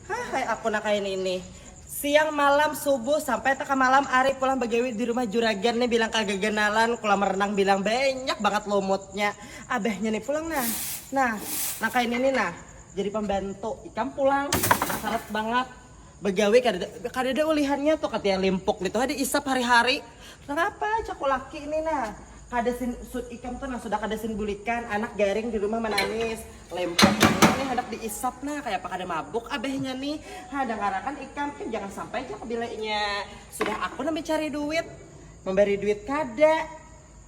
Hahai aku nakain ini. Siang malam subuh sampai teka malam ari pulang bagawi di rumah juragan ni bilang kagaganalan kulam renang bilang banyak bangat lumutnya abahnya ni pulang nah nah nakain ini nah jadi pembantu ikam pulang sarat bangat Bagawi kadada kadada ulihannya tu kata iya limpuk ngitu ha di isap hari hari nangapa jaku laki ni nah kada sin sud ikam tu nang sudah kada sin bulikan anak garing di rumah manangis limpuk nangini nih handak di isap nah kaya apa kada mabuk abahnya ni ha dangarakan ikam ih jangan sampai ja kabilanya sudah aku nang mencari duit membari duit kada.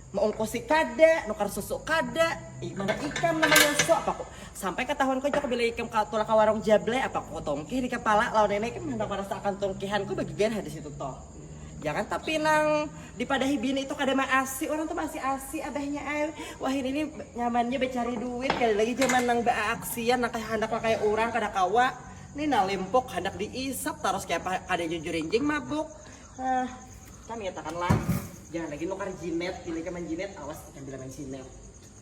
Maungkusi kada, nukar susu kada, mana ikam namanya so apa ku. Sampai katahuan ku jua bila ikam tulak ka warung Jable apa ku tungkih di kepala lawan ini ikam handak marasa akan tungkihan ku bagigian ha disitu to. Jangan tapi nang dipadahi bini itu kada maasi, urang tu maasi asi abahnya ai. Wahini ni nyamannya bacari duit kada lagi jaman nang baaaksian nang kaya handak nang kaya urang kada kawa. Ni nalimpuk handak diisap tarus kaya apa kada jujur injing mabuk. Hah, kami katakanlah jangan lagi nukar jinet, bila ikam jinet awas ikam bila main jinet.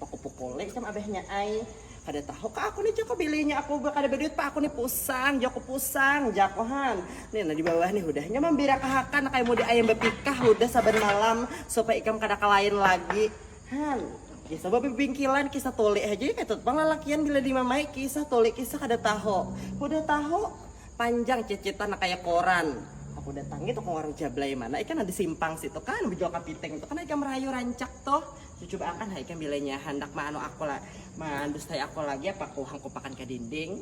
Pukul-pukul ikam abahnya ai. Kada tahu ka aku nih joko bilinya aku kada berduit pa aku nih pusang joko pusang jakohan nih nah di bawah nih hudahnya mambirakahakan kayak mudi ayam bepikah hudah saban malam supaya ikam kada kalain lagi han kisah babi bingkilan kisah tulik aja kayak tutupang lalakian bila dimamai kisah tulik kisah kada tahu hudah tahu panjang cicitan nang kaya koran. Aku datangi tukang warung jablay mana ikam nang di simpang situ kan bejual kapiting tu kan ikam rayu rancak tuh. Cucuba akan ha ikam bilanya handak ma anu aku la, mandustai aku lagi apa aku hangkupakan ka dinding.